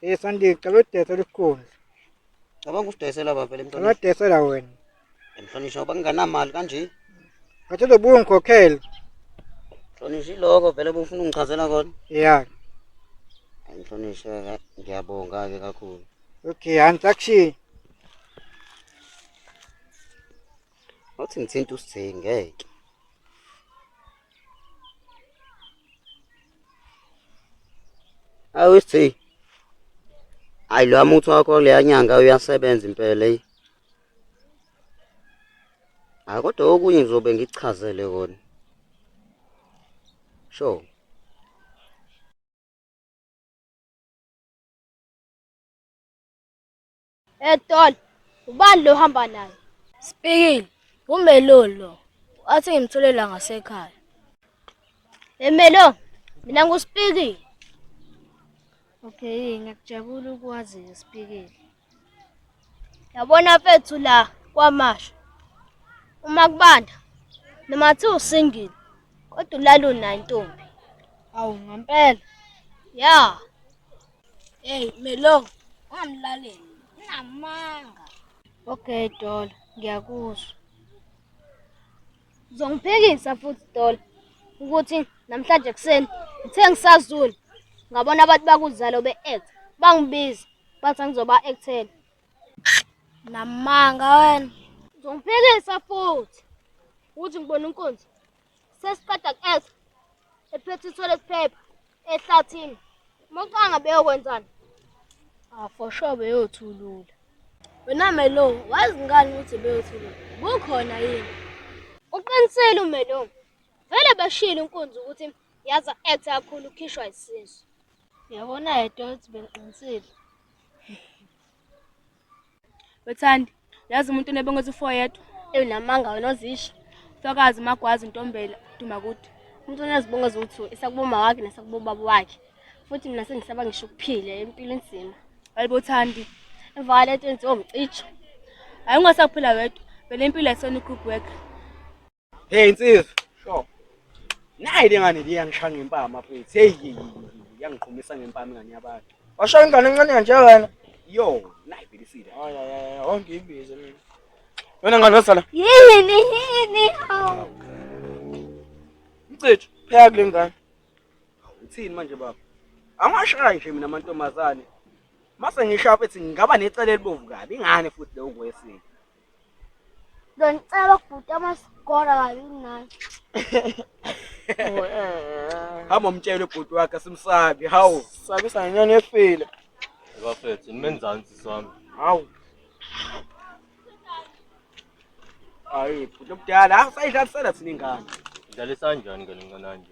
Hey Sandile, cela udayisela isikhundla. Cabanga usidayisela baba vele Cela emhlonishwa. udayisela wena. Emhlonishwa ngoba nginganamali kanje. Ngathi uzobuya ungikhokhele. Mhlonishwa iloko vele bufuna ungichazela kona. Ya. Hayi mhlonishwa ka- ngiyabonga ke kakhulu. Okay, angisakushiyi. Wathi ngithinta usithengi ngeke. awuthi hayi lo muthi wakho leya nyanga uyasebenza impela leyi hayi kodwa okunye ngizobe ngikuchazele kona sure Etol, ubani lo hamba naye? Speaking, uMelo lo. Athi ngimthole la ngasekhaya. Emelo, mina nguSpeaking. Okay, ngiyakujabula ukwazi uSpeaking. Yabona mfethu la kwamasha. Uma kubanda noma athi usingile kodwa ulala unayo intombi. Awu ngempela. Yeah. Hey Melo, ungamlaleli. Unamanga. Okay Dola, ngiyakuzwa. Uzongiphikisa futhi Dola ukuthi namhlanje kuseni ngithe ngisazula ngabona abantu bakuzalo be-act bangibiza bathi angizoba actela. Namanga wena. Uzongiphikisa futhi ukuthi ngibona inkunzi. sesiqeda ku-esa ephethe ithole siphepha ehlathini umaqanga beyokwenzani ah for sure beyothulula wena melo wazi ngani ukuthi beyothulula kukhona yini uqinisile umelo vele bashile inkunzi ukuthi yaza act kakhulu ukhishwa isisu yabona yedwa ukuthi bengiqinisile Wethandi, yazi umuntu unebonga ukuthi ufo yedwa. Eyi namanga wena ozisho. Mfakazi magwazi ntombela dumakude. Umuntu onezibongo eziwu-two esakuboma wakhe nesakubobaba wakhe. Futhi mina sengisaba ngisho ukuphila impilo inzima. Hayibo Thandi, emva kwalento enziwa umcijo. Hayi ungasaphila wedwa, vele impilo ayisona i-group work. Hey insizwa. Sure. Nayi le ngane le yangishaya ngempama mfethu. Hey hey, hey, yangiqhumisa ngempama ingane yabantu. Washaya ingane encane kanje wena. Yo, nayi bhekisile. Hayi hayi hayi, awonke ibizo mina. Wena ngane wasala. Yini yini hawu. Mcithu, pheka kule ngane. Uthini manje baba? Angashayi nje mina amantombazane. Mase ngishawa ethi ngingaba necala elibovu kabi ingane futhi leyo kwesini. Ngicela ukubhuta amasigora kabi nani. Hamba umtshele ubhuti wakhe simsabi. Hawu, sabisa ngenyoni efile. Bafethu, nimenzansi sami. Hawu. Hayi, bhuti omdala, usayidlalisela thina ingane. Dlalisani njani ngane mncananje?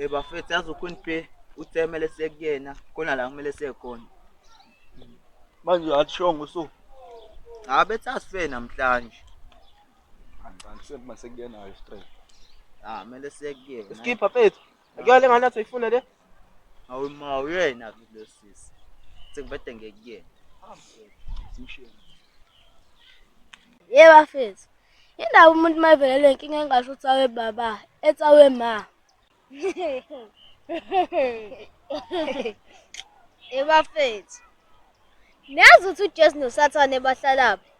Eh bafethu yazi uQueen P uthemele sekuyena khona la kumele sekhona. Manje athishongo so. Cha bethi asife namhlanje. Angicathi sekuba sekuyenayo straight. Ah kumele sekuyena. Skipper fethu. Akuyona lengane athi uyifuna le. Awu ma uyena ke lo sisi. Sengibede ngekuyena. Yebo bafethu. Indaba umuntu mayivelele inkinga engasho ukuthi awe baba, ethi awe ma. Yebo bafethu. Niyazi ukuthi uJesu noSathane bahlalaphi?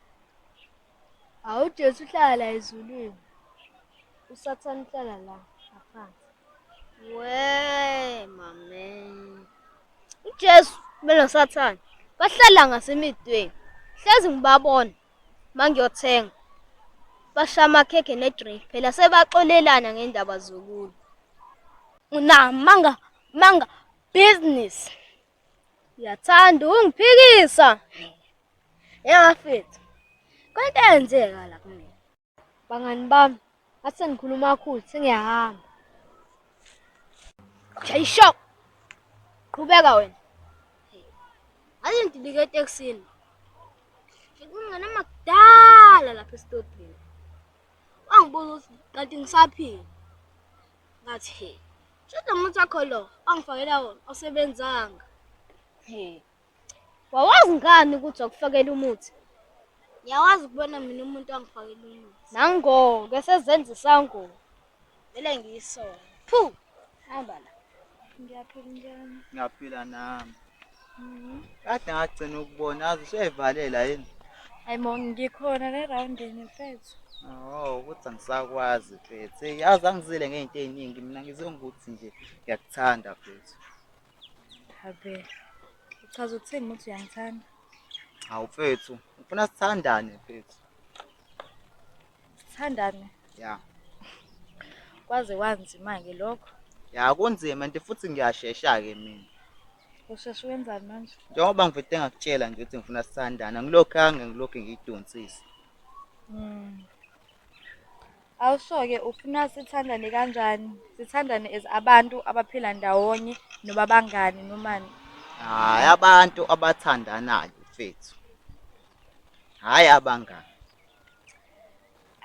Hawu uJesu uhlala la ezulwini. USathane uhlala la ngaphansi. Wee mame. UJesu belo Sathane bahlala ngasemidweni. Hlezi ngibabona mangiyothenga. Bashaya amakhekhe nedrink phela sebaxolelana ngendaba zokulwa. Unamanga manga business. Uyathanda ungiphikisa. Yabafethu. Kwento eyenzeka la kumina. Bangani bami, ngathi sengikhuluma kakhulu, sengiyahamba. Shayisho. Qhubeka wena. Ngathi ngidilike etekisini. Ngikungena makudala lapha esitobhini. Wangibuza ukuthi kanti ngisaphila. Ngathi, he, shada umuntu wakho lo ongifakela wona osebenzanga. He, wawazi ngani ukuthi wakufakela umuthi? Ngiyawazi ukubona mina umuntu ongifakela umuthi. Nango-ke sezenza isangoma. Vele ngiyisona. Phu, hamba la. Ngiyaphila njani? Ngiyaphila nami. Kade ngagcina ukubona azi usuyayivalela yini? Hayi mo ngikhona le roundini mfethu. Oh, ukuthi angisakwazi mfethu. Hey, yazi angizile ngeyinto eziningi mina ngizwe ngokuthi nje ngiyakuthanda mfethu. Habe. Uchaza ukuthini ukuthi uyangithanda? Hawu mfethu, ufuna sithandane mfethu. Sithandane. Ya. Kwaze kwanzima ke lokho. Ya kunzima nti futhi ngiyashesha ke mina. Usheshe wenzani manje? Njengoba ngivete ngakutshela nje ukuthi ngifuna sithandana ngilokhu ange ngilokhu ngiyidonsisa. Mm. Awusho-ke ufuna sithandane kanjani? Sithandane as abantu abaphila ndawonye noma bangani nomani? Hayi abantu abathandanayo mfethu. Hayi abangani.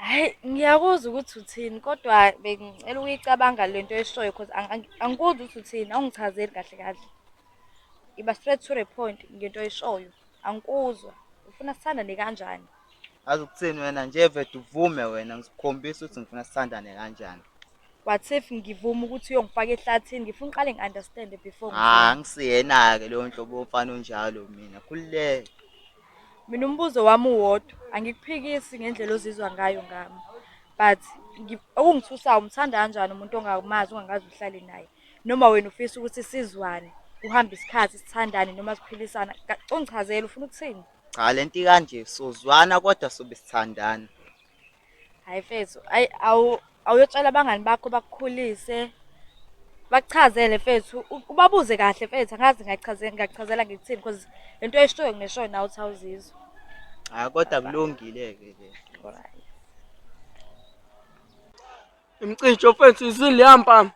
Hhayi ngiyakuzwa ukuthi uthini kodwa bengicela ukuyicabanga le nto oyishoyo cause angikuzwa ukuthi uthini awungichazeli kahle kahle. Iba straight to the point ngento oyishoyo angikuzwa ufuna sithandane kanjani. Azi ukuthini wena nje vede uvume wena ngisikhombisa ukuthi ngifuna sithandane kanjani. What if ngivume ukuthi uyongifaka ehlathini ngifuna uqale ngi-understande before. Hha ngisiyena-ke loyo nhlobo womfana onjalo mina khululeka. Mina umbuzo wami uwodwa, angikuphikisi ngendlela ozizwa ngayo ngami. But okungithusayo umthanda kanjani umuntu ongamazi ongakaze uhlale naye. Noma wena ufisa ukuthi sizwane, kuhambe isikhathi sithandane noma siphilisana. Ungichazele ufuna ukuthini? Cha lento ikanje sozwana kodwa sobe sithandana. hayi mfethu ayi awu awuyotshela abangani bakho bakukhulise bakuchazele mfethu u- ubabuze kahle mfethu angazi ngachaze- ngakuchazela ngikuthini because lento oyishoyo ngishoyo nawe uthi awuzizwa Ah kodwa kulungile-ke le. Imcijo mfethu izili yampama.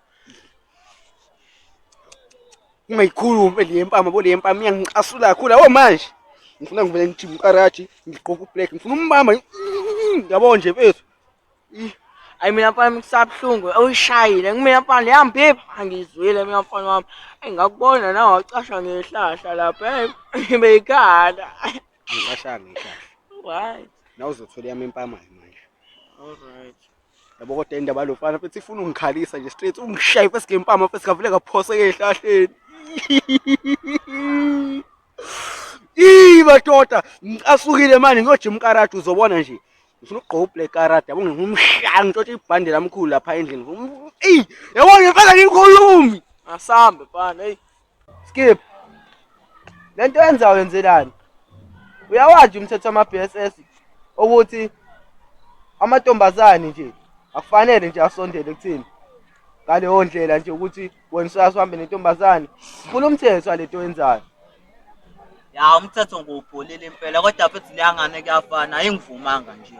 Ungayikhulumi le mpama bo le mpama iyangiqasula kakhulu awu manje. Ngifuna ngivele ngithi umqarathi ngigqoke ublack ngifuna umbamba. Yabo nje mfethu. Ayi mina mfana ngisabuhlungu uyishayile kumina mfana leyambipha angizwile mina mfana wami engakubona nawe wacasha ngehlahla lapha beyikhala angicashanga ihlahla right nawuzothola yami empama manje all right yabo kodwa indaba yalofana futhi ifuna ungikhalisa nje straight ungishaye first game pama first kavule kaphoseke ehlahleni Ii madoda ngisasukile manje ngiyojima karate uzobona nje ngifuna ukugqoka ublack karate yabo ngingumshaya ngitshothe ibhande lamkhulu lapha endlini Ii yabona mfana ngikhulumi asambe mfana hey Skip. Lento yenzayo yenzelani? Uyawazi umthetho wama BSS ukuthi amantombazane nje akufanele nje asondele kuthini ngaleyo ndlela nje ukuthi wena usase uhambe nentombazane funa umthetho walento yenzayo ya umthetho ngiwubholile impela kodwa futhi leyangane kuyafana ayingivumanga nje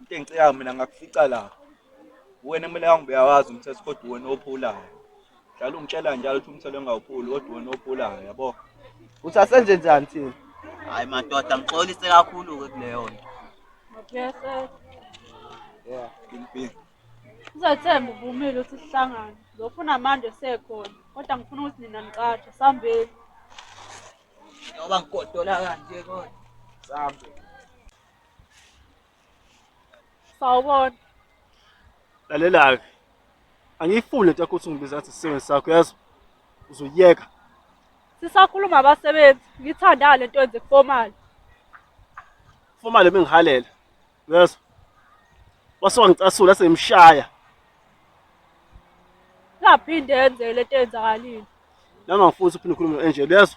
into engicikayo mina ngakufica la wena kumele angibuyawazi umthetho kodwa wena ophulayo Njalo ungitshela njalo ukuthi umthelo engawuphuli kodwa wena ophulayo yabo. Uthi asenze njani thina? Hayi madoda ngixolise kakhulu ke kuleyo nto. Ngiyase Yeah. Impini. Uzothemba uvumile ukuthi sihlangane. Lokhu unamanje sekhona. Kodwa ngifuna ukuthi nina nicatshe sambeni. Ngoba ngigodola kanje kodwa. Sambe. Sawubona. Lalela-ke. Angiyifuni lento yakho ukuthi ungibiza ngathi isisebenzi sakho yazi. Uzoyeka. Sisakhuluma abasebenzi. Ngithanda le nto yenze kufomali. Kufomali bengihalela. Yazi. Wase wangicasula sengimshaya. Ngaphinde yenze le nto yenzakalile. Nami angifuni ukuthi uphinde ukhulume enje yazi.